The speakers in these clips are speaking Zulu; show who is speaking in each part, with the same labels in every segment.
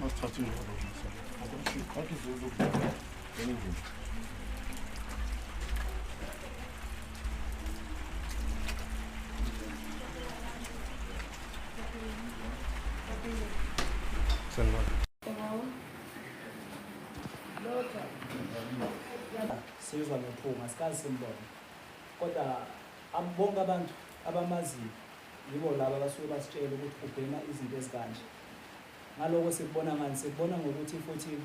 Speaker 1: Masithathe njalo Ngathi zokubona. sizwa nophunga sikazi simbona kodwa bonke abantu abamaziyo yibo laba abasuke basitshela ukuthi ubhema izinto ezikanje Ngaloko sikubona ngani? Sikubona ngokuthi futhi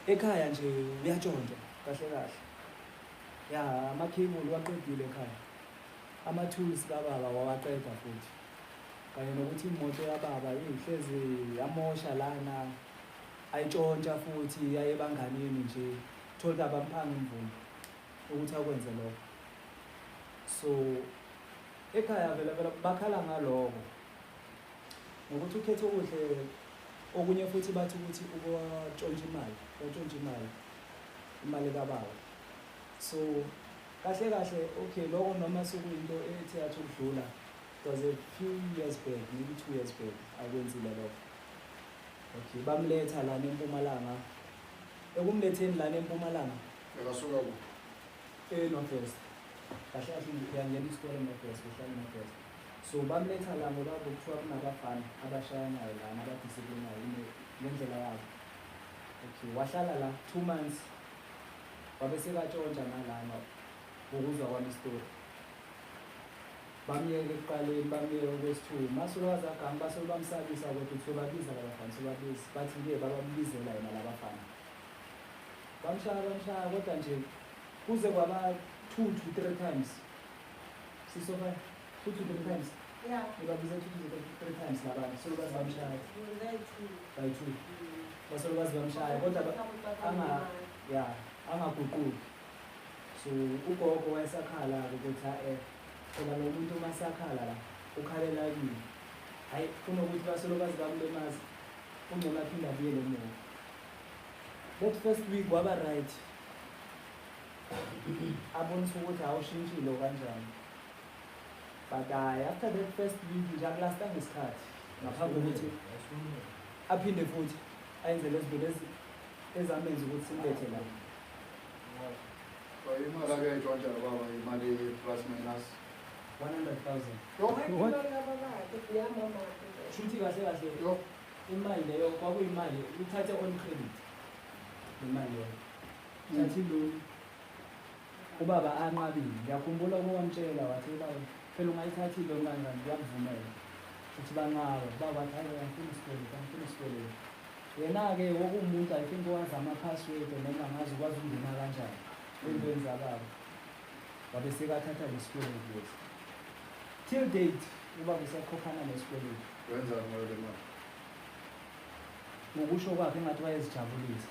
Speaker 1: ekhaya nje uyatshontshwa kahle kahle. Ya amakhebuli waqedile ekhaya. Ama-tools kababa wawaqeda futhi. Kanye nokuthi imoto yababa ihlezi yamosha lana ayitshontsha futhi yaye ebanganini nje thole abamphanga imvumo ukuthi akwenze lokho. So ekhaya vele vele bakhala ngaloko ngokuthi ukhethe okuhle okunye futhi bathi ukuthi ukwatshontsha imali watshontsha imali imali kababa so kahle kahle okay loko noma sekuyinto ethi yathi ukudlula it was a few years back maybe two years back akwenzile lokho okay bamletha lana empumalanga ekumletheni lana empumalanga ekasuka ku
Speaker 2: enorthwest
Speaker 1: kahle kahle uyangena isikole enorthwest uhlala enorthwest So bamletha la ngoba kuthiwa kunabafana abashayanayo lana abadisiplinayo ngendlela yabo. Okay, wahlala la two months wabe sekatshontsha nalana ngokuzwa kwami isitori. Bamyeke ekuqaleni bamyeke okwesithuku masolo wazagama basolo bamsabisa kodwa kuthiwe babiza labafana sobabiza bathi ke babambizela yena labafana. Bamshaya bamshaya kodwa nje kuze kwaba two to three times Sisofa two to three times. Yeah. Ubabize two
Speaker 3: to
Speaker 1: three times labana. So bazi bamshaya. By two. Basolo bazi bamshaya kodwa ama yeah, angaguquki. So ugogo wayesakhala ukuthi ha eh phela lo muntu uma sakhala la ukhalela kimi. Hayi kunokuthi basolo bazi bamlemaza. Ungcola phinda buyele emuva. That first week waba right. abonisa ukuthi awushintshile okanjani but hayi after that first week nje akulasta ngesikhathi ngaphambi kokuthi aphinde futhi ayenze lezi zinto lezi ezamenza ukuthi simbethe la imali akayetshwa njalo
Speaker 2: baba imali
Speaker 1: plus
Speaker 3: minus 100,000 shuthi kahle kahle
Speaker 1: imali leyo kwakuyimali uthathe on credit imali leyo Ngiyathi lolu. Ubaba anqabile. Ngiyakhumbula ukuwamtshela wathi ubaba phela ungayithathi into kanjani ngiyakuvumela. Uthi banqaba. Baba wathi hayi ngifuna isikweletu, ngifuna isikweletu. Yena-ke wokuwumuntu I think owazi ama-password noma ngazi ukwazi ukungena kanjani ey'ntweni zababa. Wabe sekathatha lesikweletu lesi. Till date ubaba usakhokhana nesikweletu. Wenzani ngayo le
Speaker 2: mali?
Speaker 1: Ngokusho kwakhe engathi wayezijabulisa.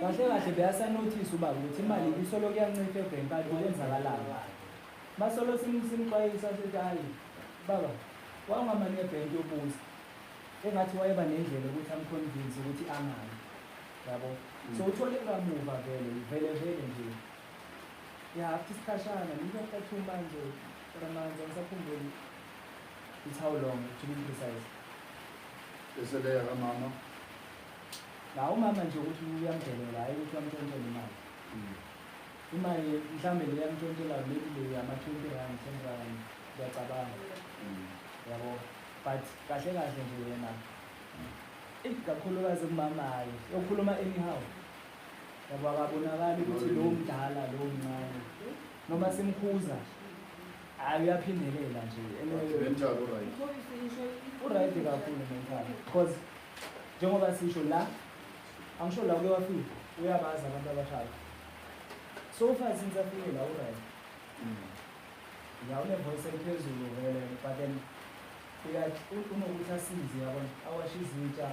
Speaker 1: kahle kahle beyasanothisa uba ukuthi imali isolo kuyancipha ebhenki kade kwenzakalanga basolo simxwayisa sithi hayi baba wangamane ebhenki yobuza engathi wayeba nendlela ukuthi amconvince ukuthi angayi yabo mm. so uthole kamuva vele vele vele nje ya after isikhashana ngiyacathuma nje for amanzi angisakhumbuli It's how long, to be precise.
Speaker 2: Eseleya kamama.
Speaker 1: La umama nje ukuthi uyamdelela hayi ukuthi uyamthontela imali. Mm. Imali mhlambe le yamthontela maybe le yama 20 rand, 10 rand ngiyacabanga. Mm. Yabo. But kahle kahle nje yena. Eh kakhulukazi umama hayi. Ukhuluma anyhow. Yabo akabonakali ukuthi lo mdala lo mncane. Noma simkhuza. hayi uyaphindelela nje
Speaker 2: uright
Speaker 1: kakhulu mental because njengoba sisho la angisho la uke wafika uyabazi abantu abashaya so far since afike la uright mm. ya unevoice eliphezulu vele but then unokuthi asize yabona awashe izitsha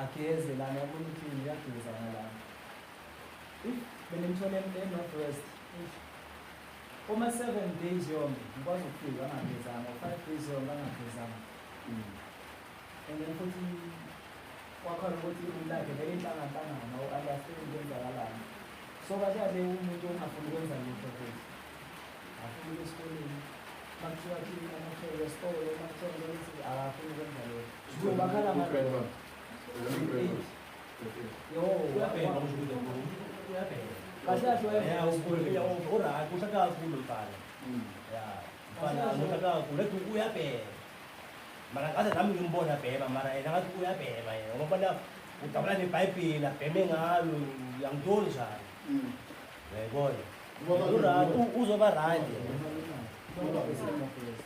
Speaker 1: ageze lana yabona ukuthi uyageza ngalana if benemthole enorth west Uma seven days yonke ngikwazi ukufika angagezanga or five days yonke angagezanga and then futhi kwakhona ukuthi umlakhe vele inhlanganhlangana or understand kwenzakalani so kahle kahle umuntu ongafuni ukwenza lutho futhi afuna ukuya esikoleni makuthiwa khini amahlelo esitolo makuthiwa ukuthi akafuni ukwenza lutho bakhala ngalo
Speaker 4: mara ngaze nami ngimbona bhema mara yena ngathi uyabhema yena ngoba na udabula nebhayibheli abheme ngalo uyangitoli njani mm. uyayibona uzoba randi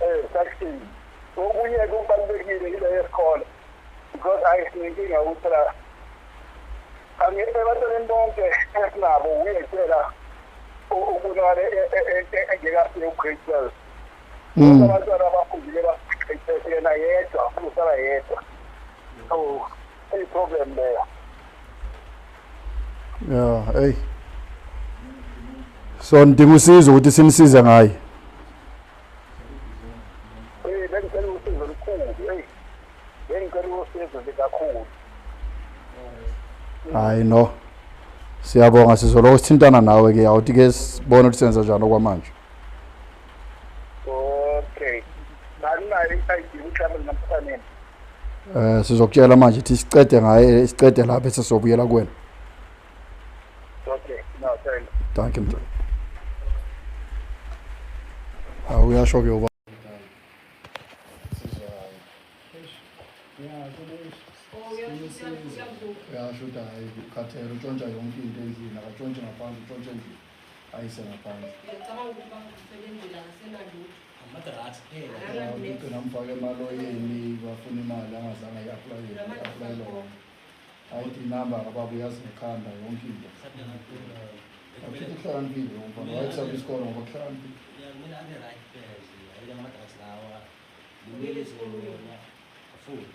Speaker 2: eh
Speaker 5: sakuthini okunye kubalulekile ile yesikole because ayisinkinga ukuthi la angeke ebantwaneni bonke esinabo uyekela ukunale engekafike ugrade twelve hmm. abantwana abafundile basiqeqeshe yena yedwa usala yedwa so iyiproblem leyo
Speaker 2: ya hey so nidinga usizo ukuthi sinisize ngaye
Speaker 5: Eh bengicela usizo olukhulu. Hey. Bengicela usizo likakhulu.
Speaker 2: hayi no siyabonga sizoloko sithintana nawe ke awuthi ke sibone ukuthi senza njani okwamanje
Speaker 5: okay balinayo i-id uhlala namfaneni eh
Speaker 2: sizokutshela manje ukuthi siqede ngaye siqede lapha bese sobuyela kuwena
Speaker 5: okay no
Speaker 2: thank you thank you mntwana awu uyasho ke uba uyasho ukuthi hayi ukhathele utshontsha yonke into endlini akatshontshe ngaphandle utshontshe endlini ayise ngaphandle ngiyacabanga ukuthi bakusebenzela ngasenalutho amadrati phela ngigcina mfake emaloyeni bafuna imali angazange i-aplayele i-aplayele wona ayid inamba kababa uyazi ngekhanda yonke into akuthi uhlakaniphile umfana wayethatha isikolo ngoba kuhlakaniphile kumele abe right phela nje ayike amadrati lawa kumele isikolo
Speaker 1: yona afunde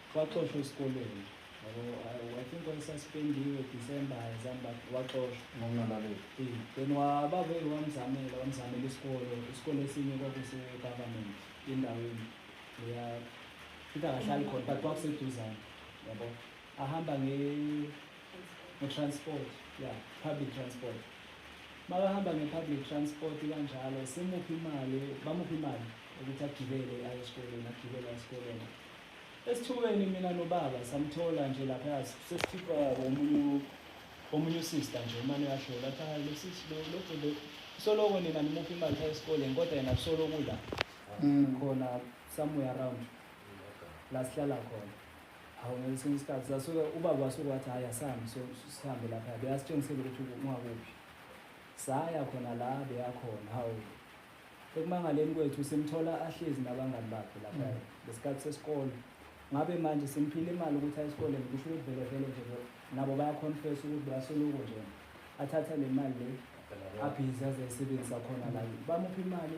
Speaker 1: Waxoshwa esikoleni. I think wayesuspendiwe December ayizami but waxoshwa. Ngokungalaleli. Eh,
Speaker 2: then wababa
Speaker 1: wamzamela wamzamela isikole. Isikole esinye kwakuse government endaweni. Leya futhi akahlali khona but kwakuseduzane. Yabo. Ahamba nge nge-transport ya public transport makahamba nge-public transport kanjalo simuphi imali bamuphi imali ukuthi agibele aye esikoleni agibele esikoleni Esithubeni mina nobaba samthola nje lapha sesikhipha omunye omunye usister nje umane uyahlola athi hayi losisi lo lo bhuti soloko nina nimuphi imali phaa esikoleni kodwa yena kusoloko la Mm. khona somewhere around la sihlala khona hawu ngesinye isikhathi sasuke ubaba wasuke wathi hhayi asihambe so- sihambe lapha bekasitshengisele ukuthi ungakuphi saya khona la beyakhona hawu Ekumangaleni kwethu simthola ahlezi nabangani bakhe lapha mm. ngesikhathi sesikole. Ngabe manje simphile imali ukuthi aye esikoleni kusho ukuthi vele vele nje nabo bayaconfess ukuthi bayasoluko nje. Athatha le mali le abhizi aze ayisebenzisa khona la. Bamuphi imali?